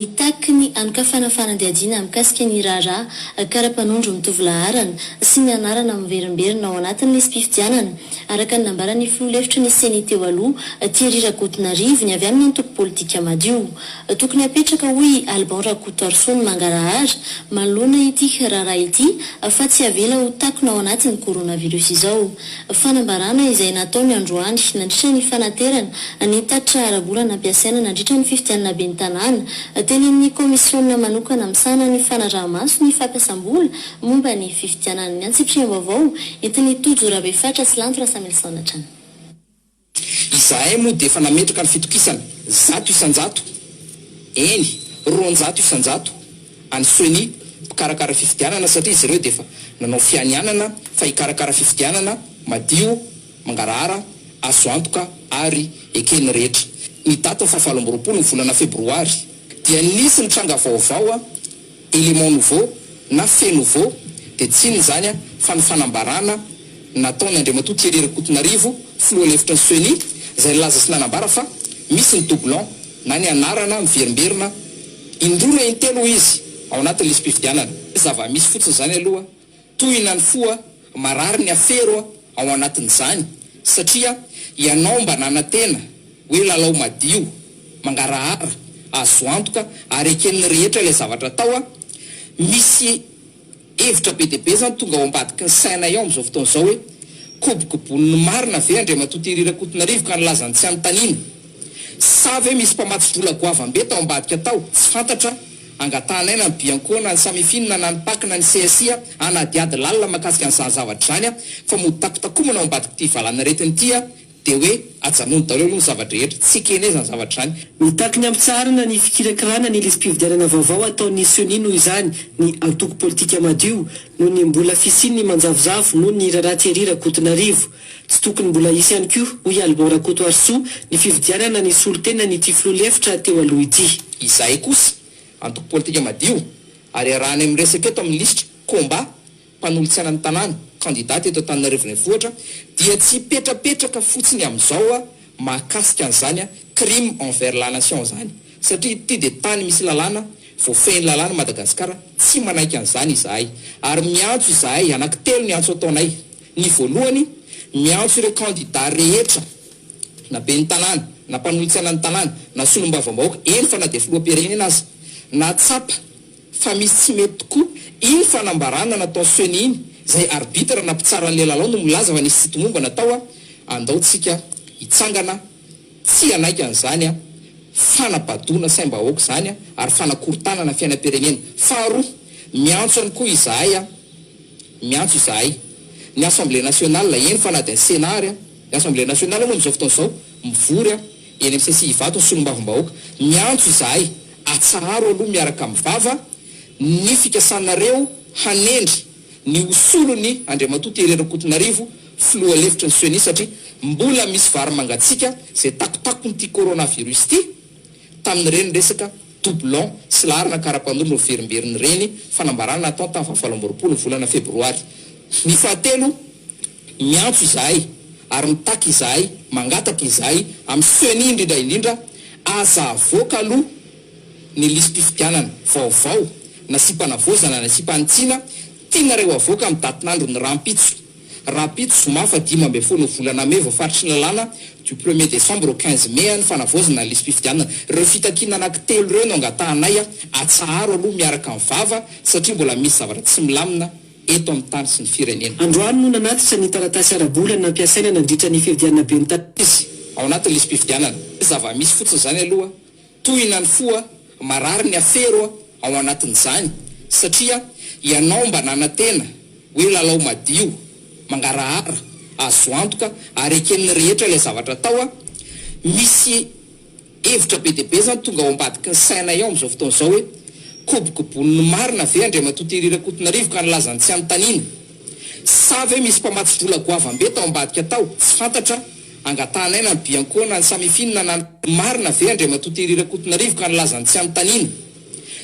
Mitaky ny hanokafana fanadihadiana mikasika ny raharaha kara-panondro mitovy laharana sy ny anarana miverimberina ao anatin'ny lisi-pifidianana, araka ny nambaran'ny filoha lefitry ny Ceni teo aloha, Thierry Rakotonarivo, ny avy amin'ny antoko politika Madio. Tokony hapetraka, hoy i Alban Rakotoarisoa, ny mangarahara manoloana ity raharaha ity fa tsy avela ho takona ao anatin'ny coronavirus izao. Fanambarana izay nataony androany nandritra ny fanaterana ny tatitra ara-bola nampiasaina nandritra ny fifidianana ben'ny tanàna. Tenenin'ny kaomisiona manokana misahana ny fanaraha-maso ny fampiasam-bola momba ny fifidianana ny antsipiriam-baovao entin'i Tojo Rabefatra sy Lanto Rasamilison hatrany. Izahay moa dia efa nametraka ny fitokisana zato isan-jato, eny, roanjato isan-jato, any Ceni, mpikarakara fifidianana, satria izy ireo dia efa nanao fianianana fa hikarakara fifidianana madio, mangarahara, azo antoka ary eken'ny rehetra. Ny datin'ny fahavalo amby roapolo ny volana febroary dia nisy ny tranga vaovao. Élément nouveau na fait nouveau dia tsy inona izany fa ny fanambarana nataon' Andriamatoa Thierry Rakotonarivo, filoha lefitry ny Ceni, izay nilaza sy nanambara fa misy ny doublon na ny anarana miverimberina indroa na intelo hoy izy ao anatin'ny lisi-pifidianana. Zava-misy fotsiny izany aloha. Tohina ny fo a! Marary ny afero a! ao anatin'izany satria ianao mba nanantena hoe lalao madio, mangarahara, azo antoka ary eken'ny rehetra ilay zavatra atao a! Misy hevitra be dia be izany tonga ao ambadiky ny sainay ao amin'izao fotoana izao hoe kobokobon'ny marina ve Andriamatoa Thierry Rakotonarivo ka nilaza ny tsy hanontaniana? Sa ve misy mpamatsy vola goavambe tao ambadika tao tsy fantatra? Angatahanaina ny biancoana, ny samifinina na ny pac na ny CSI hanadihady lalina mahakasika an'izany zavatra izany fa mody takotakomana ao ambadik'ity valanaretina ity dia hoe ajanony daholo aloha ny zava-drehetra, tsy ekena izany zavatra izany. Mitaky ny hampitsaharana ny fikirakirana ny lisi-pifidianana vaovao ataon'ny Ceni noho izany ny antoko politika Madio noho ny mbola fisian'ny manjavozavo noho ny raharaha Thierry Rakotonarivo. Tsy tokony mbola hisy ihany koa, hoy i Albin Rakotoarisoa, ny fividianana ny solontenan'ity filoha lefitra teo aloha ity. Izahay kosa antoko politika madio ary iarahanay miresaka eto amin'ny lisitra Combat, mpanolotsaina ny tanàna, kandida teto Antananarivo Renivohitra, dia tsy hipetrapetraka fotsiny amin'izao mahakasika an'izany crime envers la nation izany, satria ity dia tany misy lalàna, voafehin'ny lalàna i Madagasikara, tsy manaiky an'izany izahay, ary miantso izahay, anankitelo ny antso ataonay. Ny voalohany, miantso ireo kandida rehetra, na ben'ny tanàna, na mpanolotsainan'ny tanàna, na solombavambahoaka, eny fa na dia filoham-pirenena aza, nahatsapa fa misy tsy mety tokoa iny fanambarana nataon'i Ceni iny, izay arbitre na mpitsaran'ilay lalao no milaza fa nisy tsy tomombana tao, andao tsika hitsangana, Tsia laika an'izany an! Fanabadoana saim-bahoaka izany an! Ary fanakorontanana fiainam-pirenena. Faharoa, miantso ihany koa izahay an! Miantso izahay. Ny Assemblée Nationale, eny fa na dia ny Sénat ary an! Ny Assemblée Nationale moa amin'izao fotoana izao, mivory an! Eny amin'ny CCI Ivato ny solombavambahoaka. Miantso izahay, atsaharo aloha miaraka amin'ny vava ny fikasanareo hanendry ny ho solon'i Andriamatoa Thierry Rakotonarivo filoha lefitry ny Ceni satria mbola misy vary mangatsiaka izay takotakon'ity coronavirus ity tamin'ireny resaka doublon sy laharana karapanondro niverimberin'ireny fanambarana nataony tamin'ny fahavalo amby roapolo ny volana febroary. Ny fahatelo, miantso izahay ary mitaky izahay, mangataka izahay amin'ny Ceni indrindra indrindra, aza avoaka aloha ny lisi-pifidianana vaovao nasiam-panavaozana nasiam-panitsiana tianareo avoaka amin'ny datin'andro ny rahampitso. Rahampitso, zoma faha dimy ambin'ny folo volana mey, voafaritry ny lalàna du premier décembre au quinze mai ny fanavaozana ny lisi-pifidianana. Ireo fitakiana anankitelo ireo no angatahanay atsaharo aloha miaraka amin'ny vava satria mbola misy zavatra tsy milamina eto amin'ny tany sy ny firenena. Androany no nanatitra ny taratasy ara-bola nampiasaina nandritra ny fifidianana ben'ny tanàna izy. Ao anatin'ny lisi-pifidianana. Zava-misy fotsiny izany aloha Tohina ny fo a! Marary ny afero a! ao anatin'izany satria ianao mba nanantena hoe lalao madio, mangarahara, azo antoka ary eken'ny rehetra ilay zavatra atao a! Misy hevitra be dia be izany tonga ao ambadiky ny sainay ao amin'izao fotoana izao hoe kobokobon'ny marina ve Andriamatoa Thierry Rakotonarivo ka nilaza ny tsy hanontaniana? Sa ve misy mpamatsy vola goavambe tao ambadika tao tsy fantatra? Angatahanay na ny Bianco na ny Samifin na na. Marina ve Andriamatoa Thierry Rakotonarivo ka nilaza ny tsy hanontaniana?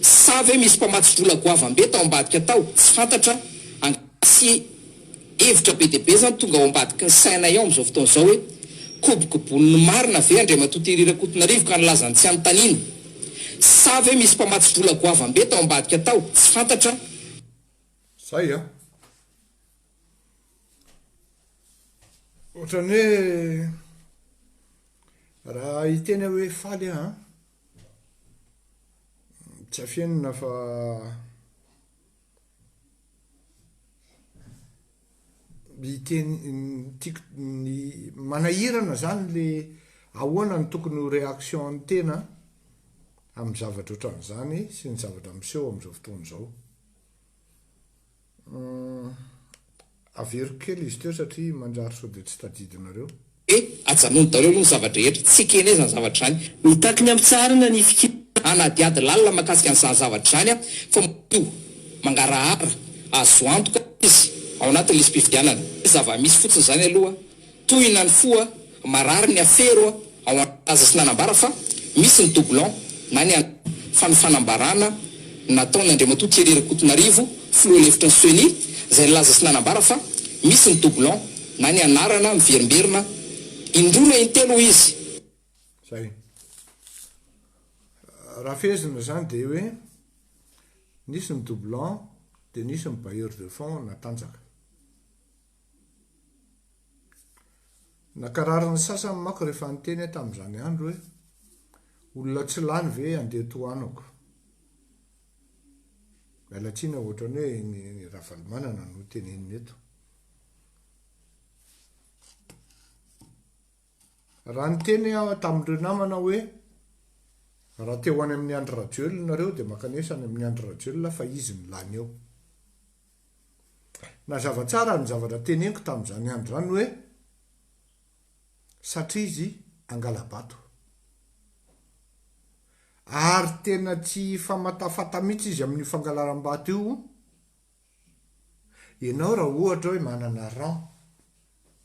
Sa ve misy mpamatsy vola goavambe tao ambadika tao? Tsy fantatra, angataha sy hevitra be dia be izany tonga ao ambadiky ny sainay ao amin'izao fotoana izao hoe, kobokobon'ny marina ve Andriamatoa Thierry Rakotonarivo ka nilaza ny tsy hanontaniana? Sa ve misy mpamatsy vola goavambe tao ambadika tao? Tsy fantatra, Zay an! Ohatran'ny hoe raha hiteny aho hoe faly aho an, tsy afenina fa hiteny tiako ny manahirana izany ilay ahoana no tokony ho réaction-n'ny tena amin'ny zavatra ohatran'izany sy ny zavatra miseho amin'izao fotoana izao. Humm. Averiko kely izy teo satria manjary sao dia tsy tadidinareo. Dia ajanony daholo aloha ny zava-drehetra. Tsy ekena izany zavatra izany. Mitaky ny hampitsaharana ny fikirana hanady ady lalina mahakasika an'izany zavatra izany aho fa madio, mangarahara, azo antoka izy ao anatin'ny lisi-pifidianana. Zava-misy fotsiny izany aloha. Tohina ny fo a! Marary ny afero a! Ao an nalaza sy nanambara fa misy ny doublon na ny an fa ny fanambarana nataon Andriamatoa Thierry Rakotonarivo filoha lefitry ny Ceni zay nilaza sy nanambara fa misy ny doublon na ny anarana miverimberina in roa na in telo hoy izy Zay. Raha fehezina izany dia hoe nisy ny doublon dia nisy ny bailleur de fonds natanjaka. Nakarary ny sasany manko rehefa niteny aho tamin'izany andro hoe, Olona tsy lany ve handeha tohanako? Miala tsiny aho, ohatran'ny hoe i Ny Ravalomanana no tenenina eto. Raha niteny aho tamin'ireo namana hoe, Raha te ho any amin'i Andry Rajoelina ianareo dia mankanesa any amin'i Andry Rajoelina fa izy no lany eo. Nazava tsara ny zavatra teneniko tamin'izany andro izany hoe, satria izy angala-bato. Ary tena tsy hifamatafata mihitsy izy amin'io fangalaram-bato io. Ianao raha ohatra hoe manana rang,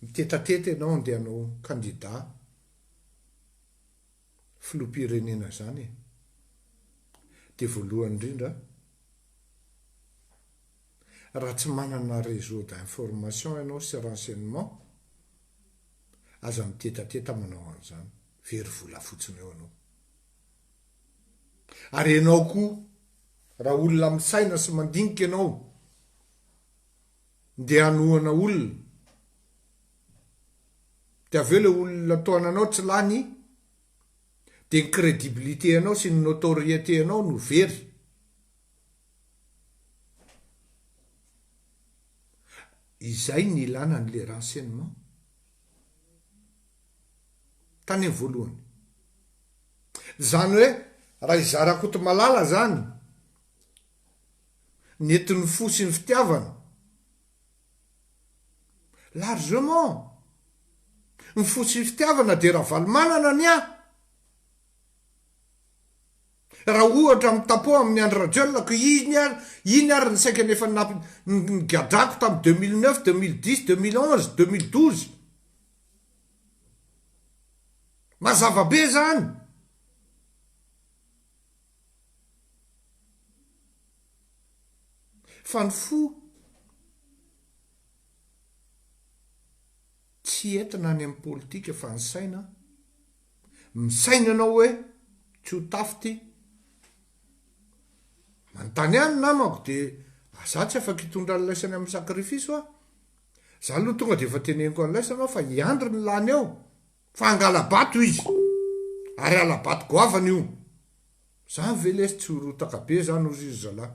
mitetateta ianao handeha hanao candidat, filoham-pirenena zany e! de voalohany indrindra raha tsy manana réseau d'information ianao sy renseignement aza mitetateta manao an'izany, very vola fotsiny eo anao. Ary ianao koa raha olona misaina sy mandinika ianao ndeha hanohana olona Dia avy eo ilay olona tohana anao tsy lany, dia ny crédibilité anao sy ny notoriété anao no very. Izay ny ilana an'ilay renseignement. Tany amin'ny voalohany. Izany hoe raha i Zarakotomalala izany, nentin'ny fo sy ny fitiavana, Largement. Ny fo sy ny fitiavana dia Ravalomanana ny ahy. Raha ohatra mitapoha amin'i Andry Rajoelina ko iny ary iny ary ny saika ny efa nigadrako tamin'ny deux mille neuf, deux mille dix, deux mille onze, deux mille douze. Mazava be izany. Fa ny fo tsy entina any amin'ny politika fa ny saina misaina ianao hoe tsy ho tafo ity manontany ahy ny namako dia za tsy afaka hitondra an'ilay saina amin'ny sacrifice aho za aloha tonga dia efa teneniko an'ilay saina aho fa i Andry no lany ao Fa hangala-bato izy, ary hala-bato goavana io. Zany ve lesy tsy ho rotaka be zany ozy ry zalahy.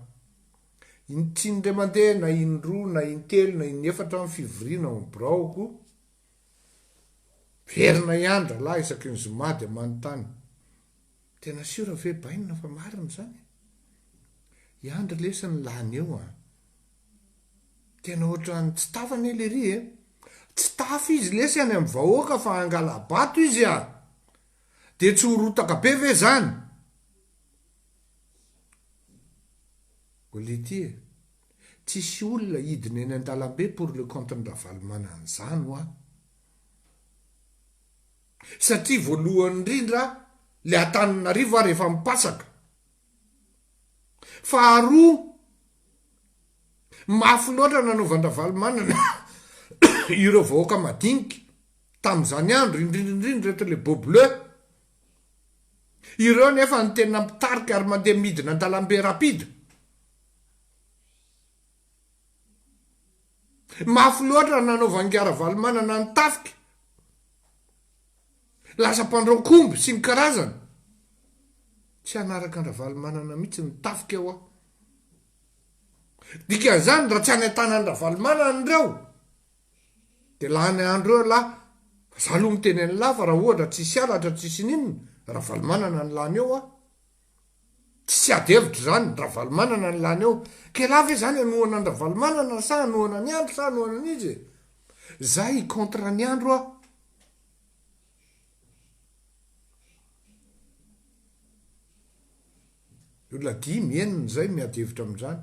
In tsy indray mandeha na indroa na intelo na inefatra ny fivoriana ao amin'ny biraoko, miverina ihany ralahy isaky ny zoma dia manontany, tena siora ve bainina fa marina izany? I Andry lesy no lany eo an! Tena ohatran'ny tsy tafa anie lery e! Tsy tafa izy lesy any amin'ny vahoaka fa hangala-bato izy a! Dia tsy ho rotaka be ve izany? Olety e! Tsisy olona hidina eny an-dalambe pour le compte-n'i Ravalomanana izany hoa! Satria voalohany indrindra ilay Antananarivo ary efa mipasaka. Faharoa, mafy loatra nanaovan-dRavalomanana ireo vahoaka madinika tamin'izany andro, indrindra indrindra ireto Lebo Bleu. Ireo anefa no tena mpitarika ary mandeha midina an-dalambe rapide. Mafy loatra nanaovan-dRavalomanana ny tafika Lasa mpandrao komby sy ny karazany. Tsy hanaraka an-dRavalomanana mihitsy ny tafika hoa. Dikan'izany raha tsy any an-tanan'i Ravalomanana ireo dia lany andro eo lah. Fa za aloha miteny an'lah fa raha ohatra tsisy halatra tsisy ininona Ravalomanana ny lany eo hoa. Tsisy ady hevitra izany, Ravalomanana ny lany eo. K'elah ve izany hanohana an-dRavalomanana sa hanohana an'i Andry sa hanohana an'iza e? Za hi-contre an'i Andry hoa. Ny olona dimy, enina izay no miady hevitra amin'izany.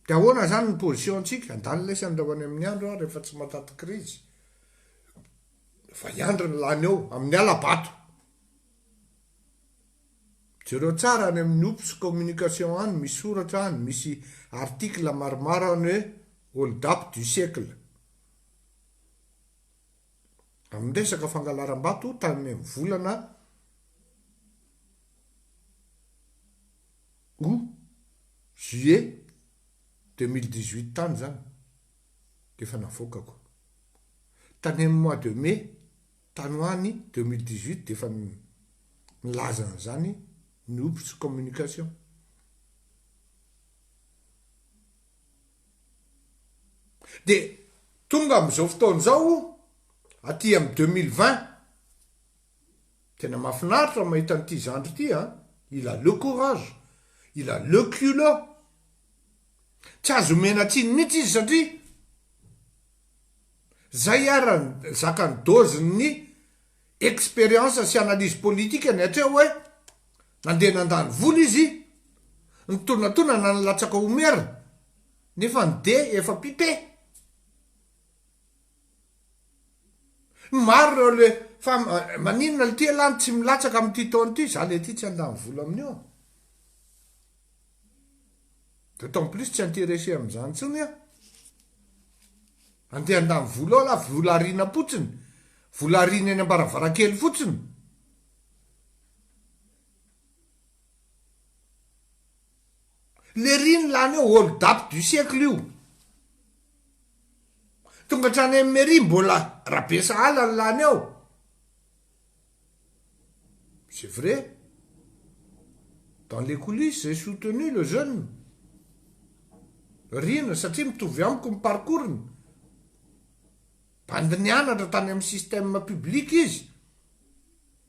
Dia ahoana izany ny position-tsika? Handany lesany raha ho any amin'ny andro aho rehefa tsy matanty krizy. Efa hiandry ny lany eo, amin'ny hala-bato. Jereo tsara any amin'ny Oops communication any, misy soratra any, misy article maromaro any hoe Hold-up du siècle. amin'ny resaka fangalaram-bato tamin'ny volana août, juillet deux mille dix-huit tany izany dia efa navoakako. Tany amin'ny mois de mai tany ho any deux mille dix-huit dia efa nilaza an'izany ny Ops Communication. Dia tonga amin'izao fotoana izao, aty amin'ny deux mille vingt, tena mahafinaritra ny mahita an'ity zandry ity an! Il a le courage, il a le culot. Tsy azo omena tsiny mihitsy izy satria izay ary ny zakan'ny dozin'ny expérience sy analyse politique-ny hatreo hoe. Nandeha nandalo vola izy, nitonatonana nilatsaka ho maire nefa ny de efa pipe. Maro ireo le fa maninona lty elah no tsy milatsaka amin'ity taona ity, za le ty tsy handany vola amin'io an. D'autant plus tsy intéressé amin'izany intsony an. Andeha handany vola ao elah, vola ariana potsiny, vola ariana eny ambaravarankely fotsiny. Lery ny lany eo hold up du siècle io. Tonga hatrany amin'ny mairie mbola Rabesahala ny lany eo. C'est vrai. Dans les coulisses j'ai soutenu le jeune. Rina satria mitovy amiko ny parcours-ny. Bandy nianatra tany amin'ny système public izy.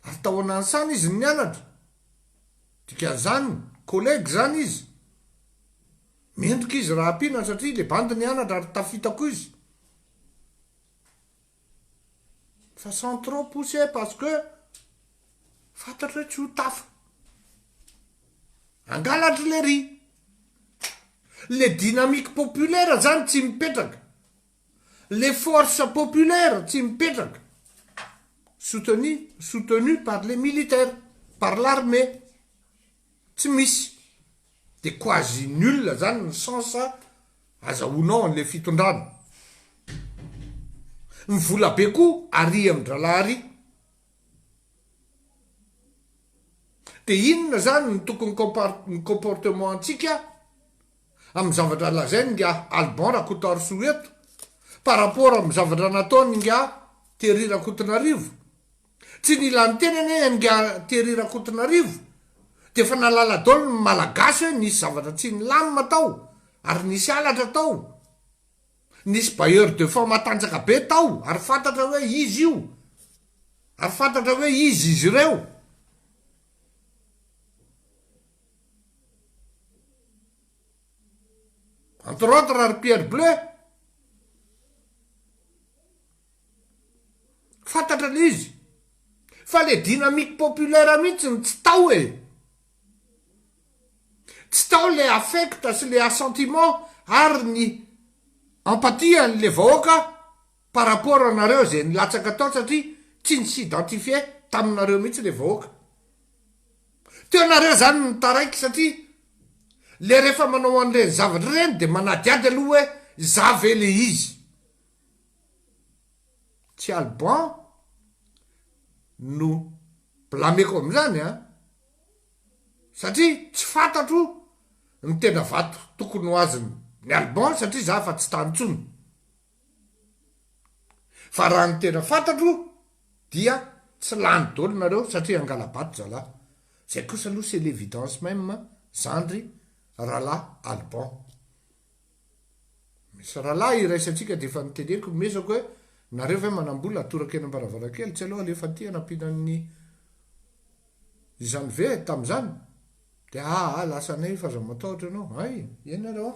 Ary tao Nansana izy no nianatra. Dikan'izany, collègue izany izy. Mendrika izy raha ampiana satria ilay bandy nianatra ary tafita koa izy. Fa sans trop pousser parce que fantatro hoe tsy ho tafa. Angalatry lery. Le dynamique populaire zany tsy mipetraka. Les forces populaires tsy mipetraka soutenu soutenu par les militaires par l'armée tsy misy de quasi nul zany ny sens azahoanao anle fitondrana ny vola be ko aria am drala aria de inona zany ny tokony comportement antsika amin'ny zavatra lazain'ny ingahy Alban Rakotoarisoa eto par rapport amin'ny zavatra nataon'ny ingahy Thierry Rakotonarivo? Tsy nila niteny anie ingahy Thierry Rakotonarivo dia efa nahalala daholo ny Malagasy hoe nisy zavatra tsy nilamina tao ary nisy halatra tao, nisy bailleur de fonds matanjaka be tao ary fantatra hoe izy io ary fantatra hoe izy izy ireo. Entre autres ry Pierre Bleu. Fantatra le izy. Fa le dynamique populaire mihitsy ny tsy tao e. Tsy tao le affect sy le assentiment ary ny empathie an'le vahoaka par rapport anareo izay nilatsaka tao satria tsy nisy identifie taminareo mihitsy ilay vahoaka teo nareo izany no nitaraiky satria ilay rehefa manao an'ireny zavatra ireny dia manadihady aloha hoe izaho ve ilay izy tsy alban no blameko amin'izany an satria tsy fantatro ny tena vato tokony ho azony ny alban satria izaho efa tsy tany intsony Fa raha ny tena fantatro dia tsy lany dolo nareo satria hangalabato zalahy. Zay kosa aloha c'est l'évidence même zandry Ralahy Alban. Misy ralahy iraisantsika dia efa niteneniko nomezako hoe nareo ve manambola atoraka eny ambaravarankely tsy aleo alefa aty anampiana an'ny izany ve tamin'izany dia aa lasa anay fa aza matahotra ianao hay eny nareo a.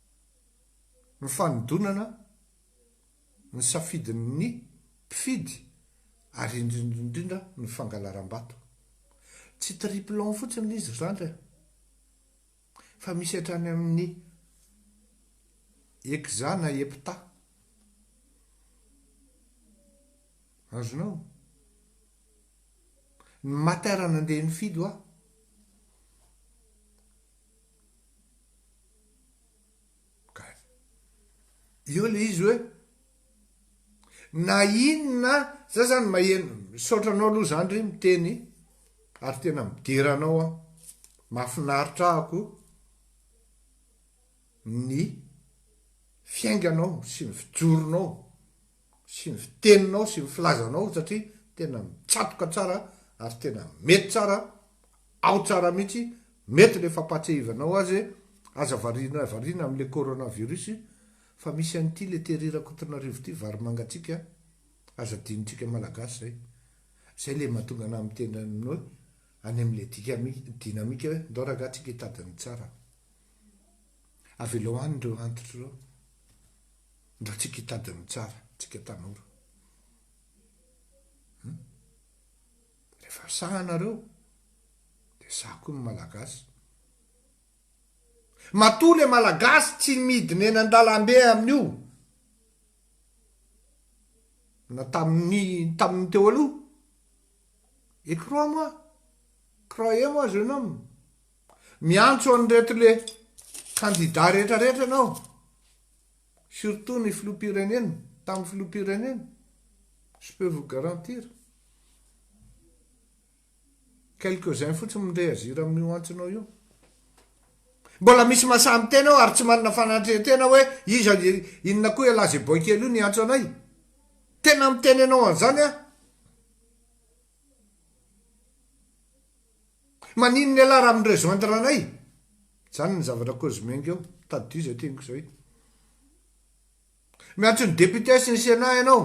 ny fanodonana ny safidin'ny mpifidy ary indrindra indrindra ny fangalaram-bato. Tsy triplon fotsiny ilay izy ry zandry a! Fa misy hatrany amin'ny hexa na hepta. Azonao? Ny mater nandeha nifidy hoa. Kay. Eo le izy hoe na inona za zany maheno misaotra anao aloha zany re miteny ary tena midera anao aho. Mahafinaritra ahy koa ny fiainganao sy ny fijoronao. sy ny fiteninao sy ny filazanao satria tena mitsatoka tsara ary tena mety tsara ao tsara mihitsy mety le fampahatsiahivanao azy e aza variana variana amle corona virus fa misy an'ity le tery rakotonarivo ity vary mangatsiaka aza adinontsika malagasy zay zay le mahatonga anah miteny aminao hoe any amle dikami dinamika hoe ndao ragah tsika hitady ny tsara avelao any reo antitra reo Ndra tsika hitady ny tsara tsika tanora hum rehefa sahy nareo de sahy koa ny malagasy. Matoa le malagasy tsy midina eny andalambe amin'io na tamin'ny tamin'ny teo aloha et crois moi croyez moi jeune homme Miantso an'ireto le kandida rehetra rehetra ianao, surtout ny filoham-pirenena, tamin'ny filoham-pirenena, je peux vous garantir. Quelques uns fotsiny mi-reagir amin'io antsonao io. Mbola misy masaha miteny ao ary tsy manana fanantrehantena hoe iza inona koa ialahy izay boy kely io niantso anay. Tena miteny anao an'izany aho. Maninona ialahy raha mi-rejoindre anay? Zany ny zavatra Cosmeng eo, tadidio zay teniko zay. Miantso ny députés sy ny Sénat ianao.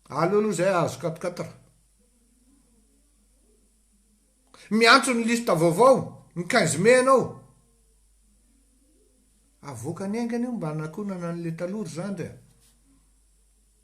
Aleo aloha zay ahazo quatre quatre. Miantso ny liste vaovao ny quinze mai ianao. Avoakany aingana io mba hanakonana an'le taloha ry zandry a.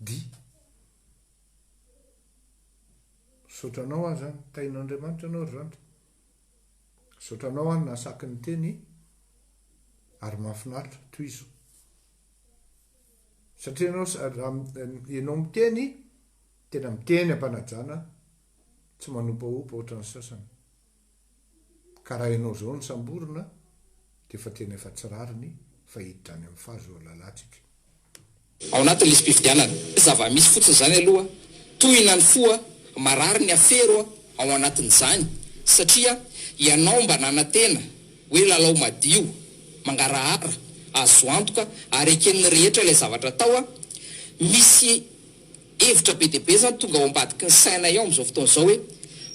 Dia misaotra anao aho izany. Tahin'Andriamanitra anao ry zandry. Misaotra anao aho nahasaky niteny ary mahafinaritra. Tohizo. Satria ianao raha ianao miteny, tena miteny am-panajana, tsy manopahopa ohatran'ny sasany. Karaha enao zao ny samborina de efa tena efa tsy rariny fa hiditra any am fa zo lalatsika. Ao anatin'ny lisi-pifidianana. Zava-misy fotsiny izany aloha, tohina ny fo a! Marary ny afero a! ao anatin'izany, satria ianao mba nanantena hoe lalao madio, mangarahara, azo antoka ary eken'ny rehetra ilay zavatra atao a! Misy Hevitra be dia be izany tonga ao ambadiky ny sainay ao amin'izao fotoana izao hoe,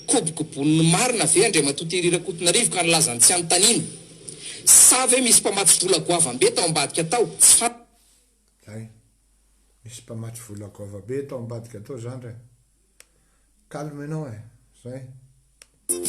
kobokobon'ny marina ve Andriamatoa Thierry Rakotonarivo ka nilaza ny tsy hanontaniana? Sa ve misy mpamatsy vola goavam-be tao ambadika tao? Tsy Hay, misy mpamatsy vola goava-be tao ambadika tao zandry a! Calme enao e! Zay.